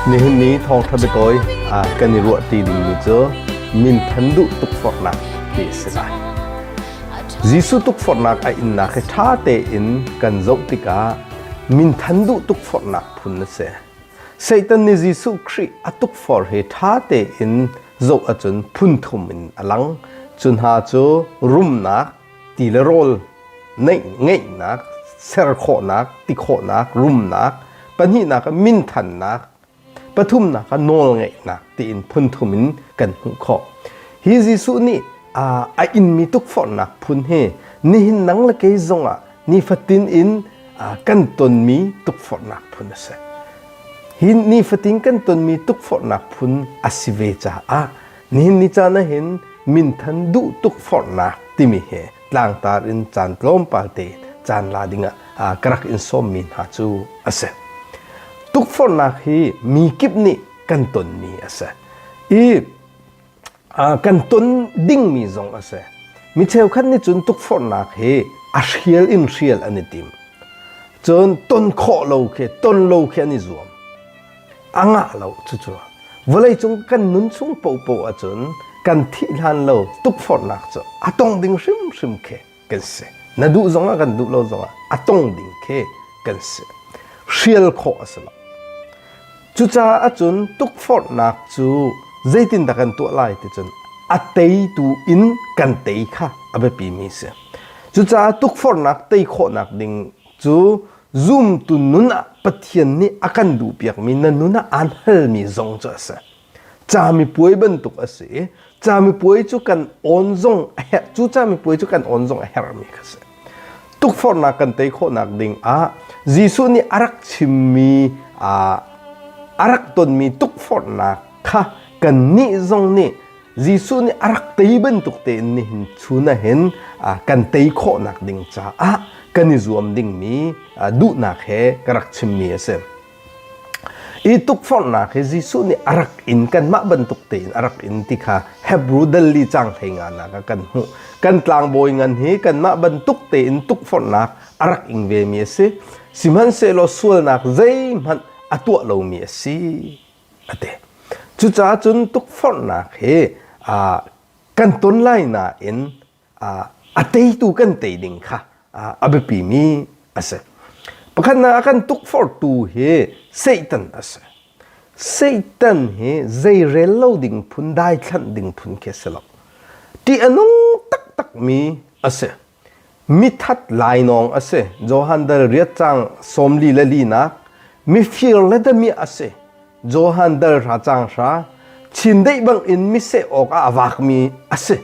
Nihin ni thawngṭha biatawi ah kan i ruah ti dingmi cu minthan duh tukforhnak ti a si lai. Jesuh tukforhnak a innak hi ṭha tein kan zoh tikah minthan duh tukforhnak phun a si. Satan nih Jesuh Khrih a tukforh hi ṭha tein zoh ahcun phunthum in a lang. Cu hna cu rumnak, ti le rawl, ngeihnak, ser khawhnak, ti khawhnak, rumnak, pahnihnak ah minthannak, pathumnak ah nawlngeihnak tiin phunthum in kan hmuh khawh. Hi Jesuh nih a inmi tukforhnak phun hi nihin nang le kei zongah nifatin in kan tonmi tukforhnak phun a si. Hi nifatin kan tonmi tukforhnak phun a si ve caah nihin ni caan hin minthan duh tukforhnak timi he tlangtar in caan tlawmpal te caan la dingah ka rak in sawmmi hna cu a si. Tukforhnak hi mi kip nih kan tonmi a si. I kan ton dingmi zong a si mi cheukhat nih cun tukforhnak hi a hrial in hrial an i tim cun ton khawh lo khi ton lo khi an i zuam a ngah lo cucu vawlei cung kan nun chung popo ahcun kan thih hlan lo tukforhnak cu a tong ding hrimhrim khi kan si na duh zongah kan duh lo zongah a tong ding khi kan si hrial khawh a si lo cucaah cun tukforhnak cu zeitin dah kan tuah lai ti cun a teitu in kan tei kha a biapimi si cucaah tukforhnak tei khawhnak ding cu zumtu nun ah Pathian nih a kan duhpiakmi na nun ah aan halmi zong cu a si camipuai bantuk a si i camipuai cu kan on zong a herh cu camipuai cu kan on zong a herhmi kha si tukforhnak kan tei khawhnak ding ah Jesuh nih a rak chimmi a rak tonmi tukforhnak kha kan nih zong nih Jesuh nih a rak tei bantuk tein nihin chun hin kan tei khawhnak ding caah kan i zuam dingmi duhnak he ka rak chimmi a si. Hi tukforhnak hi Jesuh nih a rak in kanmah bantuk tein a rak in ti kha Hebrew dali cang hlei nganak ah kan hmuh. Kan tlangbawi ngan hi kanmah bantuk tein tukforhnak a rak ing vemi a si. Sihmanhsehlaw sualnak zeihmanh a tuah lomi a si a ti. Cucaah cun tukforhnak hi kan ton lai nain a teitu kan tei ding kha a biapimi a si. Pakhatnak a kan tukforhtu hi Satan a si. Satan hi zeirel lo ding phun daithlanh ding phun khi a si lo. Ṭih a nung taktakmi a si. Mithat lainawng a si. Johan dal riat cang sawmli le linak mifir le dami a si. Johan dal hra cang hra chindeih bangin miseh awkah a vakmi a si.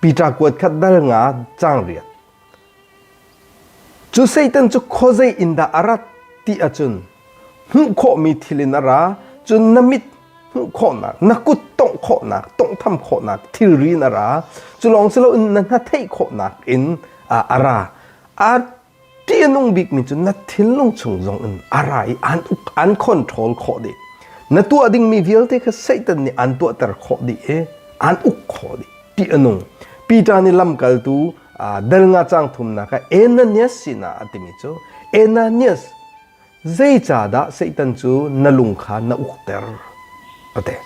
Peter kuat khat dal nga cang riat. Cu Satan cu khuazei in dah a rat ti ahcun hmuh khawhmi thil in a ra cun na mit hmuh khawhnak na kut tongh khawhnak tonghtham khawhnak thilri in a ra cu lawng si loin na hna theih khawhnak in a ra. A ti a nung bikmi cu na thinlung chung zong in a ra i an uk an control khawh dih na tuah dingmi vialte kha Satan nih an tuahter khawh dih i an uk khawh dih ti a nung Peter nih lamkaltu del nga cang thumnak ah Ananias sinah a timi cu Ananias zeicahdah Satan cu na lung kha na ukter pate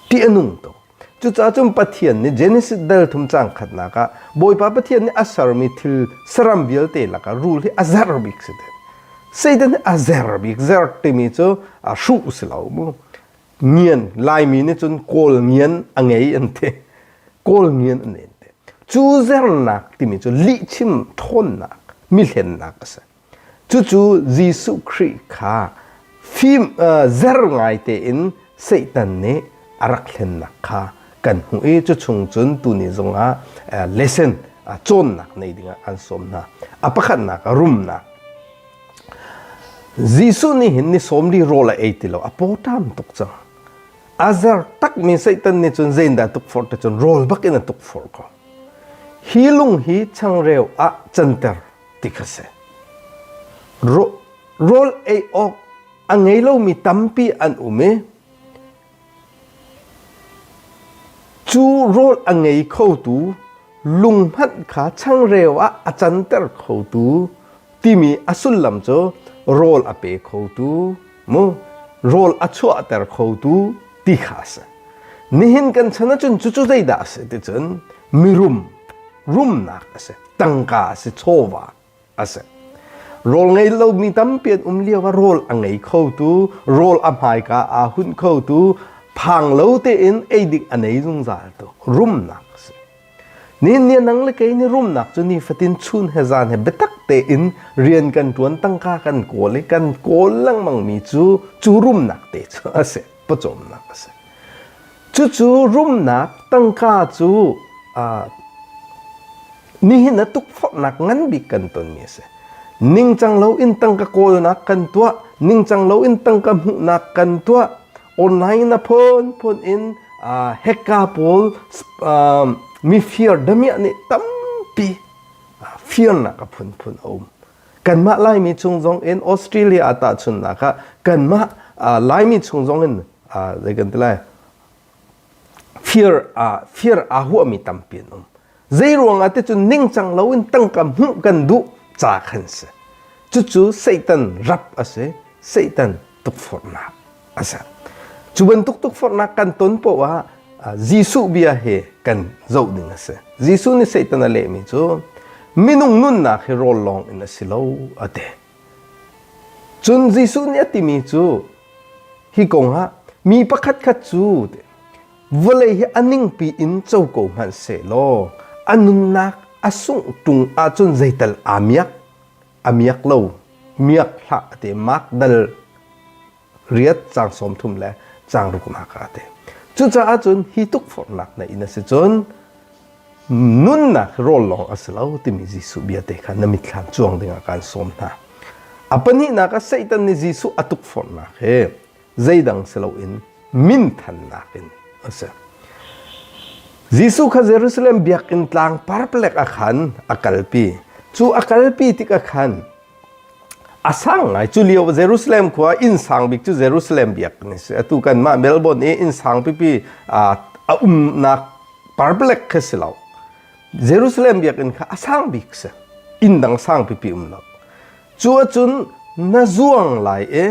ti a nung tuk Cucaah cun Pathian nih Genesis dal thum cang khatnak ah Bawipa Pathian nih a sermi thil saram vialte lakah rul hi a zer bik si te. Satan nih a zer bik zer timi cu a hruh si lo mu. Ngian Laimi nih cun kawl ngian a ngei an te. Kawl ngian an ngei te. Cu zernak timi cu lihchim thawnnak, mihlennak a si. Cucu Jesuh Khrih kha fim zer ngai tein Satan nih a rak hlennak kha kan hmuh i cuchung cun tuni zongah lesson cawnnak nei dingah an sawm hna. A pakhatnak a rumnak. Jesuh nih hin ni sawm li rawl a ei ti lo a pawtam tuk cang. A zer takmi Satan nih cun zeindah tukforh te cun rawl bak in a tukforh ko. Hi lung hi changreu ah canter ti kha si. Rawl ei awk a ngei lomi tampi an um i cu rawl a ngei khotu lung hmanh kha changreu ah a canter khotu timi a sullam cu rawl a pe khotu mu rawl a chuahter khotu ti kha a si nihin kan chan ahcun cucu zeidah a si ticun mirum rumnak a si tangka a si chawva a si rawl ngei lomi tampi an um lio ah rawl a ngei khotu rawl a hmaika aa hun khotu phang lo tein ei dik a nei zungzal tu rumnak Ni nia nang le kei ni rumnak cu nifatin chun he zan he biatak tein rian kan ṭuan tangka kan kawl i kan kawl lengmangmi cu cu rumnak te cu a si pawcawmnak a si. Cucu rumnak tangka cu nihin a tukforhnak ngan bik kan tonmi a si. Ningcang loin tangka kawlnak kan tuah, ningcang loin tangka hmuhnak kan tuah, online na phunphun in uh, hekka pawl uh, mi fear damiah nih tampi uh, fear nak a phunphun a um kanmah laimi chung zong in australia ta chun nak ah kanmah uh, laimi chung zong in uh, zei kan ti lai fir ah fir aa huahmi tampi an um. Zeiruangah ti cun ningcang loin tangka hmuh kan duh ca khan si. Cucu Satan rap a si. Satan tukforhnak a si. Cu bantuk tukforhnak kan ton poah ah Jesuh bia he kan zoh ding a si. Jesuh nih Satan a lehmi cu minung nunnak hi rawl lawng in a si lo a ti. Cun Jesuh nih a timi cu hi kongah mi pakhatkhat cu vawlei hi a ningpi in co ko hmanh seh law a nunnak a sungh ṭung ahcun zeital aa miak? A miak lo. Miak hlah a ti. Makdal riat cang sawm thum le cang rukam haka ate. Cucaah cun hi tukforhnak na in a si cun nunnak rawl lawng a si lo timi Jesuh bia te kha na mitthlam cuang dingah kan sawm hna. A pahnihnak ah Satan nih Jesuh a tukforhnak he zeidang si loin minthannak in a si. Jesuh kha Jerusalem biakinn tlang parplek ah khan a kalpi. Cu a kalpi tikah khan a sang ngai cu lio Jerusalem khua inn sang bik cu Jerusalem biak ni si atu kan mah Melbourne i inn sang pipi a umnak public kha si lo Jerusalem biakinn kha a sang bik si inn dang sang pipi um lo cu acun na zuang lai e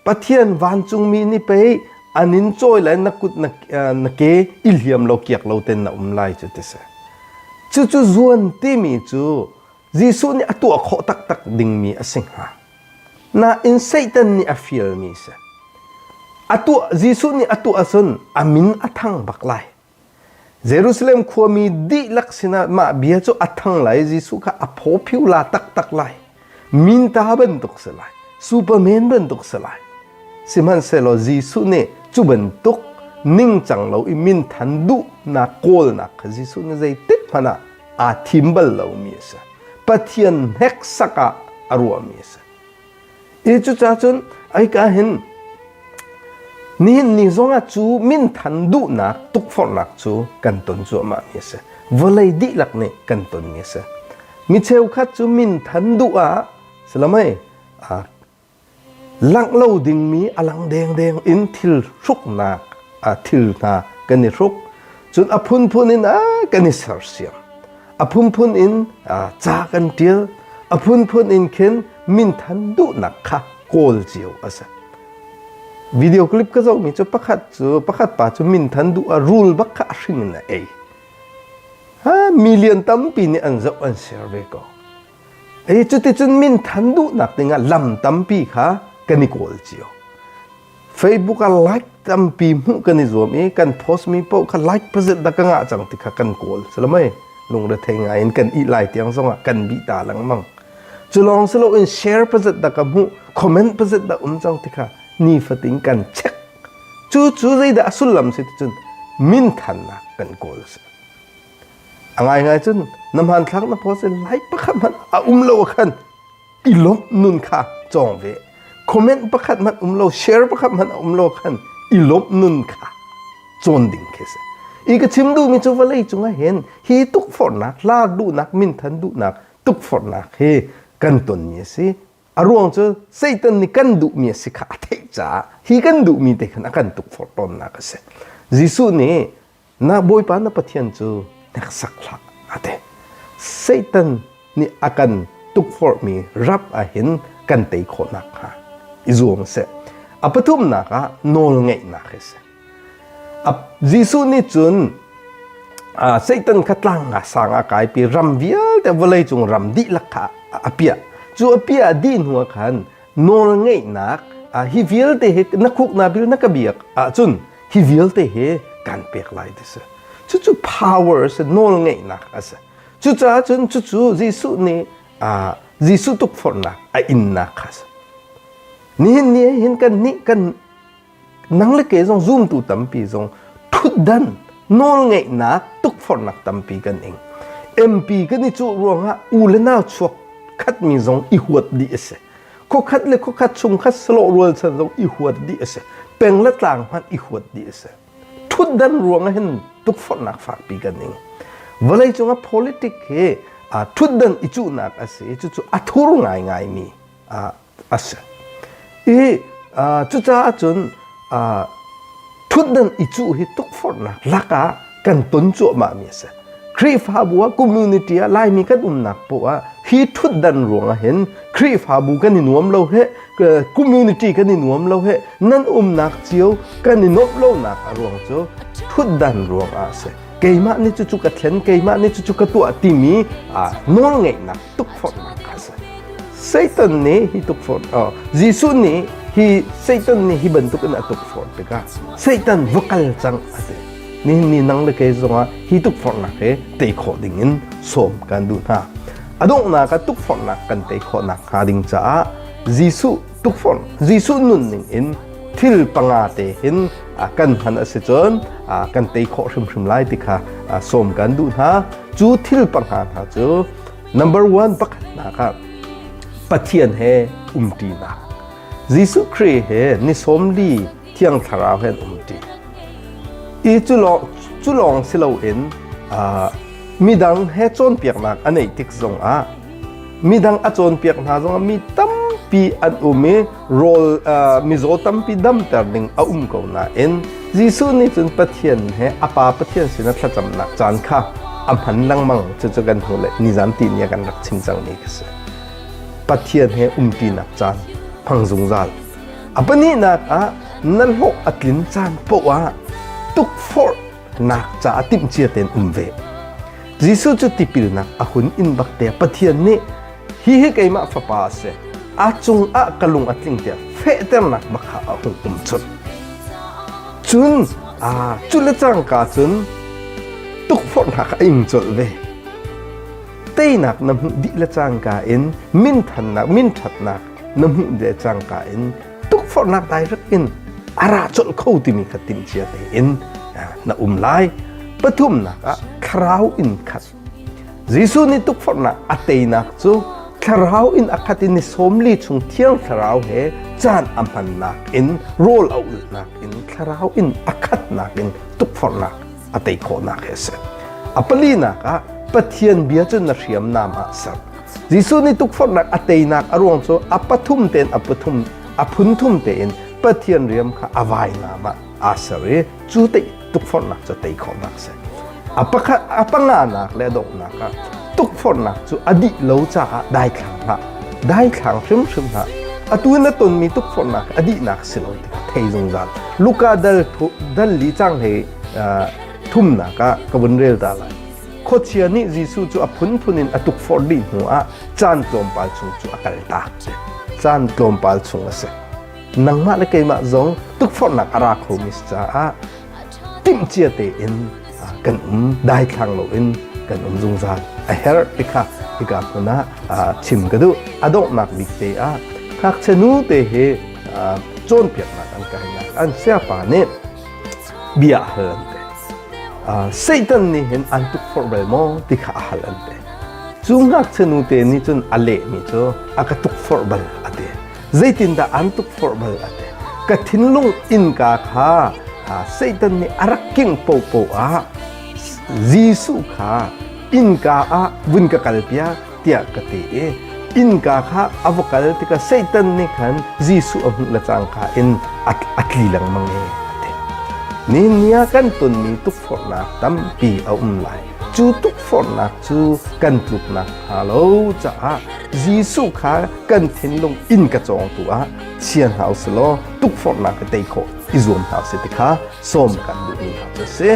Pathian vancungmi ni pei an in cawi lai na kut na ke i hliam lo kiak lo ten na um lai cu ti si cucu zuan timi cu Jesuh nih a tuah khawh taktak dingmi a si hnga. Nain Satan nih a fialmi si. A tuah Jesuh nih a tuah ahcun a min a thang bak lai. Jerusalem khuami dihlak sinah mah bia cu a thang lai. Jesuh kha a phaw phiu la taktak lai. Minta bantuk si lai. Superman bantuk si lai. Sihmanhsehlaw Jesuh nih cu bantuk ningcang lo i minthan duhnak kawlnak kha Jesuh nih zeitik hmanh ah aa thim bal lomi a si. Pathian hneksak ah a ruahmi a si. Hi cucah cun aika hin nihin ni zongah cu minthan duhnak tukforhnak cu kan ton cuahmah mi a si. Vawlei dihlak nih kan ton mi a si. Mi cheukhat cu minthan duh ah silamai Langh lo dingmi a lang dengdeng in thil hruknak thil hna kan i hruk. Cun a phunphun in a kan i sersiam. A phunphun in ca kan ṭial. A phunphun in khin minthan duhnak kha kawl cio a si. Video clip ka zohmi cu pakhat cu pakhat pa cu minthan duh a rul bak kha a hring in a ei. Ha, million tampi nih an zoh an share ve ko. Ei cuticun minthan duhnak dingah lam tampi kha kan i kawl cio. Facebook ah like tampi hmuh kan i zuam i kan post mi paoh kha like pazet dah ka ngah cang ti kha kan kawl salamai lungrethei ngai in kan ih lai tiang zongah kan bi ta lengmang cu lawng si loin share pazet dah ka hmuh comment pazet dah um cang ti kha nifatin kan check cu cu zeidah a sullam si ticun minthannak kan kawl si A ngaingai cun na hmanthlak na post in like pakhat hmanh a um lo ahkhan i lawmh nun kha cawng ve. Comment pakhat hmanh um lo, share pakhat hmanh a um lo khan i lawmh nun kha cawn ding khi si. I ka chim duhmi cu vawlei cungah hin hi tukforhnak hla duhnak minthan duhnak tukforhnak hi kan tonmi a si. A ruang cu Satan nih kan duhmi a si kha a theih caah hi kan duhmi te khan a kan tukforh tawnnak a si. Jesuh nih Na Bawipa na Pathian cu hneksak hlah a ti. Satan nih a kan tukforhmi rap ahhin kan tei khawh nakhnga i zuam seh. A pathumnak ah nawlngeihnak hi si. Jesuh nih cun Satan kha tlang nga sang a kaipi ram vialte vawleicung ram dihlak kha a piah. Cu a piah a dih hnuah khan nawl ngeihnak a hi vialte he na khuk na bil na ka biak ahcun hi vialte he kan pek lai ti si cucu power si nawl ngeihnak a si cucaah cun cucu Jesuh nih Jesuh tukforhnak a innak kha si nihin ni hin kan nih kan nang le ke zong zumtu tampi zong thutdan nawl ngeihnak tukforhnak tampi kan ing MP kan i cu ruangah u le nau chuak khat mi zong i huat dih a si khokhat le khokhat chung khat slo rual chan zong i huat dih a si peng le tlang hmanh i huat dih a si thutdan ruangah hin tukforhnak fakpi kan ing vawlei cungah politic hi a thutdan i cuhnak a si cucu a thur ngai ngai mi a a si. I cucaah cun thutdan i cuh hi tukforhnak lakah kan ton cuahmahmi a si. Khrihfabu ah community ah Laimi kan umnak poah hi thutdan ruangah hin Khrihfabu kan i nuam lo he community kan i nuam lo he nan umnak cio kan i nuamh lonak a ruang cu thutdan ruangah a si. Keimah nih cucu ka thlen, keimah nih cucu ka tuah timi nawlngeihnak tukforhnak a si Satan nih hi tukforh uh, Jesuh nih hi Satan nih hi bantuk in a tukforh tikah Satan va kal cang a ti nihin ni nang le ke zongah hi tukforhnak he tei khawh ding in sawm kan duh hna a donghnak a tukforhnak kan tei khawhnak hnga ding caah Jesuh tukforh Jesuh nunning in thil panga te hin kan hman a si cun kan tei khawh hrimhrim lai ti kha sawm kan duh hna cu thil panga hna cu number one pakhatnak ah Pathian he umṭinak Jesuh Khrih he ni sawm li thiang thlarau he umṭi i cu lawng cu lawng si loin midang he cawnpiaknak a neih tik zongah midang a cawnpiak hna zongah mi tampi an um i rawl uh, mizaw tampi damter ding a um ko nain Jesuh nih cun Pathian he a pa Pathian sinah thlacamnak caan kha a hman lengmang cucu kan hnu le nizan ti ni kan rak chim cang mi ka si Pathian he umpinak caan hmang zungzal a pahnihnak ah na hlawh a tlin caan poah ah tukforh nak caah timhcia tein um ve Jesuh cu tipilnak a hun in bakte Pathian nih hi hi keimah fapa a si a cung ah ka lung a tling tiah fehternak bakha a hung um chun cun a cu le cangka cun tukforhnak a ing colh ve teinak na hmuh dih le cangka in min thannak min thatnak na hmuh de cangka in tukforhnak dai in a ra colh kho timi ka timcia tein na um lai pathumnak ah thlarau in khat Jesuh nih tukforhnak a teinak cu thlarau in a khat in ni sawmli chung thiang thlarau he caan a hmannak in rawl a ulhnak in thlarau in a khatnak in tukforhnak a tei khawhnak he a si a palinak ah Pathian bia cu na hriamnam ah ser Jesuh nih tukforhnak a teinak a ruang cu a pathum tein a pathum a phunthum tein Pathian riam kha a vainam ah aa ser i cu te tukforhnak cu tei khawhnak a si. A pakhat a panganak le a donghnak ah tukforhnak cu a dih lo caah daithlang hlah, daithlang hrimhrim hlah. Atu in a tonmi tukforhnak a dihnak si lo tikah thei zungzal. Luka dal dal li cang he thumnak ah ka vun rel ta lai. Khuachia nih Jesuh cu a phunphun in a tukforh dih hnuah caan tlawmpal chung cu a kaltak a si. Caan tlawmpal chung a si. Nangmah le keimah zong tukforhnak a ra khomi si caah timhcia tein kan um daithlang loin kan um zungzal a herh ti kha hika hmun ah chim ka duh a donghnak bik te ah ngakchia nu te hi cawnpiaknak an kainak an siapa nih bia a hal an te Satan nih hin an tukforh bal maw ti kha a hal an te cu ngakchia te nih cun a lehmi cu a ka tukforh bal a ti zeitindah an tukforh bal a ti ka thinlung innka kha Satan nih a rak king popo ah Jesuh kha innka ah vun ka kalpiak tiah ka ti i innka kha a va kal tikah Satan nih khan Jesuh a hmuh le cangka in a, a tli lengmang i a ti. Ninia kan tonmi tukforhnak tampi a um lai. Cu tukforhnak cu kan tluk nakhnga lo caah Jesuh kha kan thinlung in ka cawngtu ah chia hna u sih law tukforhnak ka tei khawh i zuam hna u sih ti kha sawm kan duhmi hna cu a si.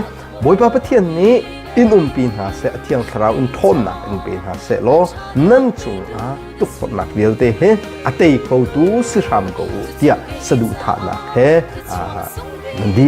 Bawipa Pathian nih in umpi hna seh, a thiang thlarau in ṭhawnnak in pe hna seh law nan cungah tukforhnak vialte he a tei khotu si hram ko u tiah saduhthahnak he nan di.